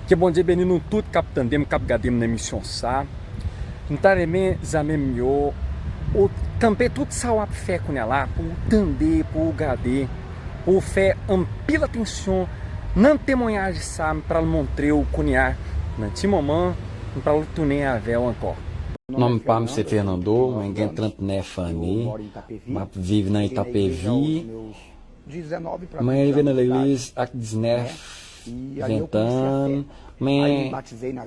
Ke Bondye beni nou tout kap tandem kap gadem nan emisyon sa m ta renmen zanmim yo ou kanpe tout sa wap fè kounya la pou ou tande pou ou gade pou ou fè anpil atansyon nan temwanyaj sa m pral montrew kounya nan ti moman m pral tounen avèw ankò. Nom pam se Fernando mwen gen 39 anne map viv nan eta pevi. Mwen rive nan legliz ak diznèf, ventan, mwen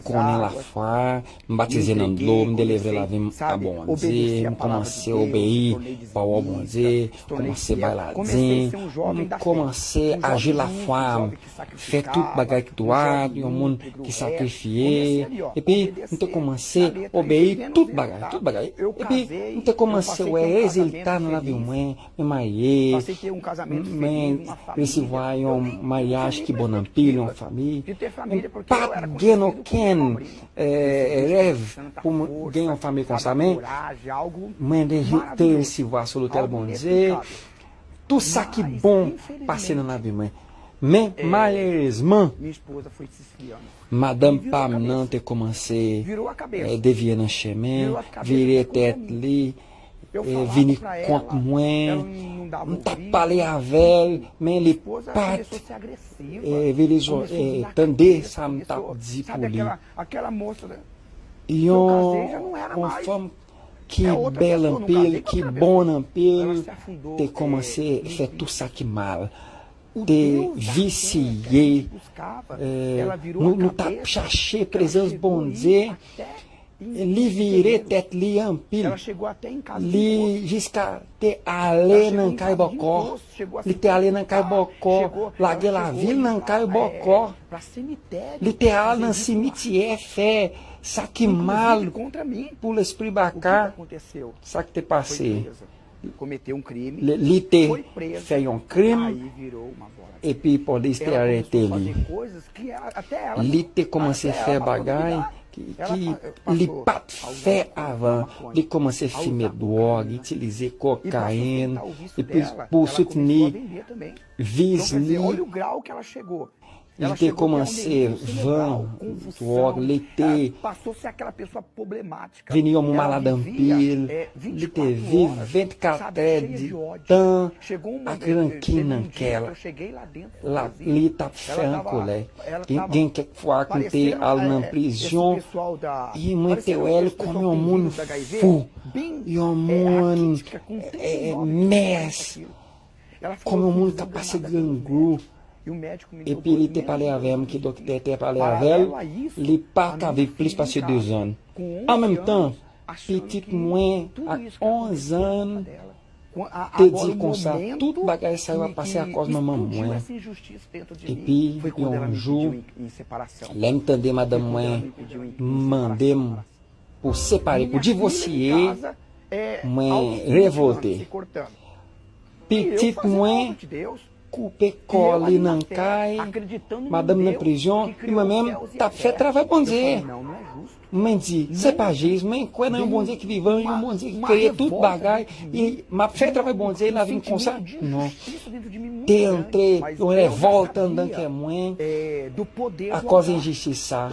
konnen lafwa, m batize nan dlo, m delivre lavi m a Bondye, m kòmanse obeyi pawòl Bondye, kòmanse bay ladin, m kòmanse aji lafwa m, fè tout bagay ki dwat, yon moun ki sakrifye, epi m te kòmanse obeyi tout bagay, tout bagay, epi m te kòmanse wè rezilta nan lavi mwen. Mwen marye, mwen resevwa yon maryaj ki bon anpil, yon fanmi, mwen pa gen okenn rèv pou mwen gen yon fanmi konsa, men mwen te resevwa sou lotèl Bondye, tout sa ki bon pase nan lavi mwen. Men malerezman, madanm pa m nan te kòmanse deviye nan chemen, vire tèt li. vini kont mwen m tap pale avèl men li pat vini tande sa m tap di pou li yon fanm ki bèl anpil ki bon anpil te kòmanse fè tout sa ki mal te visye nou tap chache prezans Bondye li vire tèt li anpil li jiska te ale nan kay bòkò li te ale nan kay bòkò lage lavil nan kay bòkò li te al nan simityè fè sa ki mal pou lespri baka sak te pase Li te fè yon krim epi polis te arete li. Li te kòmanse fè bagay ki li pa t fè avan. Li kòmanse fime dwòg, itilize kokayin epi pou soutni viz li. Li te koumanse vann dwòg, li te vin yon moun malad anpil, li te viv 24 tè di tan ak rankin nan kè l, li t ap fè an kolè. Gen kèk fwa k m te al nan prizon e mwen te wè l kòm yon moun fou, yon moun mès. Kòm yon moun k'ap pase grangou, epi li te pale avè m ki doktè te pale avè l, li pa ka viv plis pase dezan. Anmenmtan, pitit mwen ak onzan te di konsa, Tout bagay sa yo ap pase akòz manman mwen. Epi yon jou, lè m tande madanm mwen mande m Pou separe pou divosye mwen revolte pitit mwen koupe kò li nan kay madanm nan prizon epi mwen menm tap fè travay Bondye mwen di se pa jis mwen kwè nan yon Bondye ki vivan yon Bondye ki kreye tout bagay. Li map fè travay Bondye e la vin konsa? Non. Te antre yon revòlt anndan kè mwen akòz enjistis sa.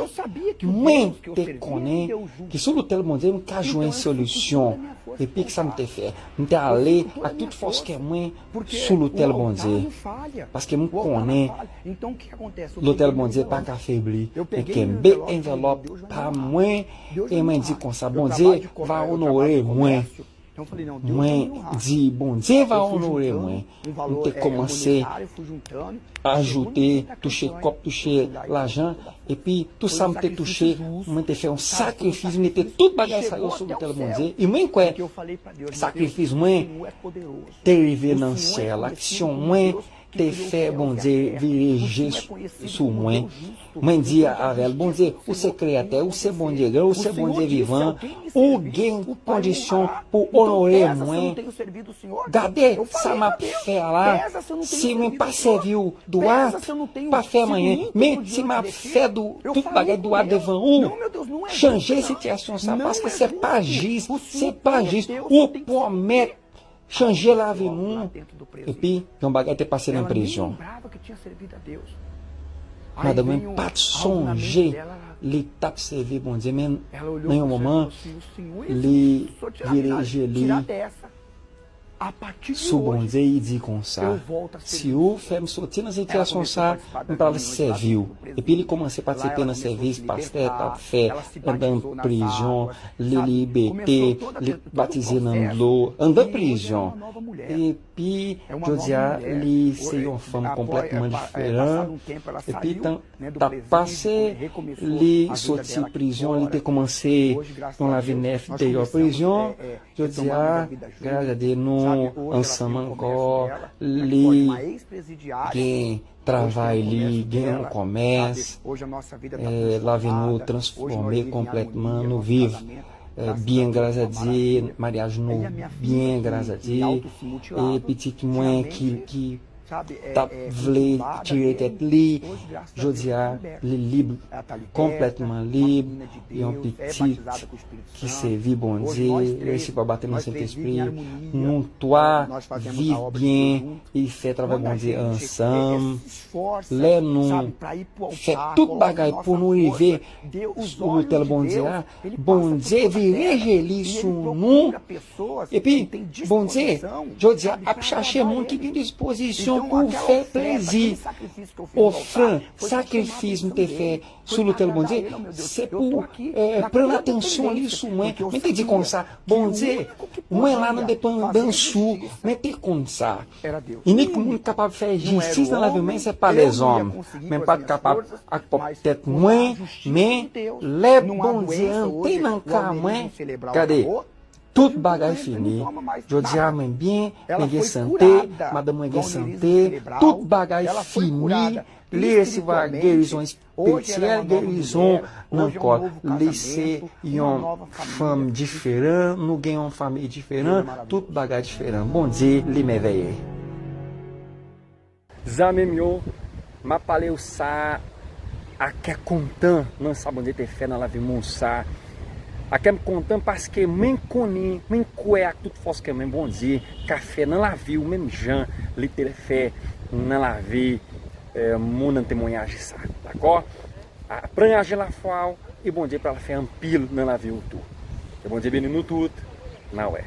Mwen te konnen ke sou lotèl Bondye m ka jwenn solisyon. Epi kisa m te fè? M te ale ak tout fòs kè mwen sou lotèl Bondye. Paske m konnen lotèl Bondye pa ka febli. Mwen kenbe envelòp pa mwen e mwen di konsa, Bondye va onore mwen. Mwen di Bondye va onore mwen, m te kòmanse ajoute, touche kòb, touche lajan, epi tout sa m te touche, mwen te fè yon sakrifis, m mete tout bagay sa yo sou lotèl Bondye, e mwen kwè sakrifis mwen te rive nan syèl, aksyon mwen te fè Bondye vire je sou mwen, mwen di avè l, Bondye, ou se Kreyatè, ou se Bondye gran, ou se Bondye vivan, ou gen kondisyon pou w onore mwen. Gade sa m ap fè a la, si mwen pa sèvi w dwat, pa fè m anyen, men, si m ap fè tout bagay dwat devan ou, chanje sitiyasyon sa a, paske se pa jis, se pa jis, ou pwomèt Chanje lavi moun epi yon bagay te pase nan prizon. Madanm mwen pa t sonje li t ap sèvi Bondye men nan yon moman li vire je li sou Bondye li di konsa, si ou fè m soti nan sitiyasyon sa, m pral sèvi ou. Epi li komanse patisipe nan sèvis pastè t ap fè anndan prizon, li libete, li batize nan dlo anndan prizon. Epi jodi a li se yon fanm konplètman diferan. Epi tan t ap pase, li soti prizon, li te koumanse yon lavi nèf deyò prizon. Jodi a, gras a Dye nou ansanm ankò, li gen. travay li gen yon komès lavi nou transfome konpletman nou viv byen gras a Dye maryaj nou byen gras a Dye e pitit mwen ki tap vle tiye tèt li jodi a li lib konpletman lib yon pitit ki sevi Bondye resi pa bateman sentespri nou 3 viv byen E fè travay Bondye ansanm. Lè nou fè tout bagay pou nou rive sou lotèl Bondye a, Bondye vire je li sou nou. Epi, Bondye, jodi a, ap chache moun ki gen dispozisyon pou fè plezi. Ofrann, sakrifis m te fè. sou lotèl Bondye, se pou ou pran atansyon li sou mwen, men te di konsa, Bondye, mwen la nan depandans ou, men te konsa. Inik moun kapab fè jistis nan lavi mwen se pa lèzòm, men pat kapab ak pwòp tèt mwen, men lè Bondye an te nan ka mwen, gade, Tout bagay fini jodia mwen byen mwen gen sante madanm mwen gen sante tout bagay fini li resevwa gerizon espirityèl gerizon nan kòl li se yon fanm diferan nou gen yon fanmi diferan tout bagay diferan Bondye li mèvèye. Zanmi m yo, m ap pale yo sa a kè kontan nan sa Bondye te fè nan lavi Moussa a. Kè m kontan paske mwen konnen, mwen kwè ak tout fòs kè mwen Bondye ka fè nan lavi ou menm jan li te fè nan lavi moun nan temwanyaje sa a. Dakò? Pran aje lafwa ou e Bondye pral fè anpil nan lavi ou tou. Ke Bondye beni nou tout. N a wè.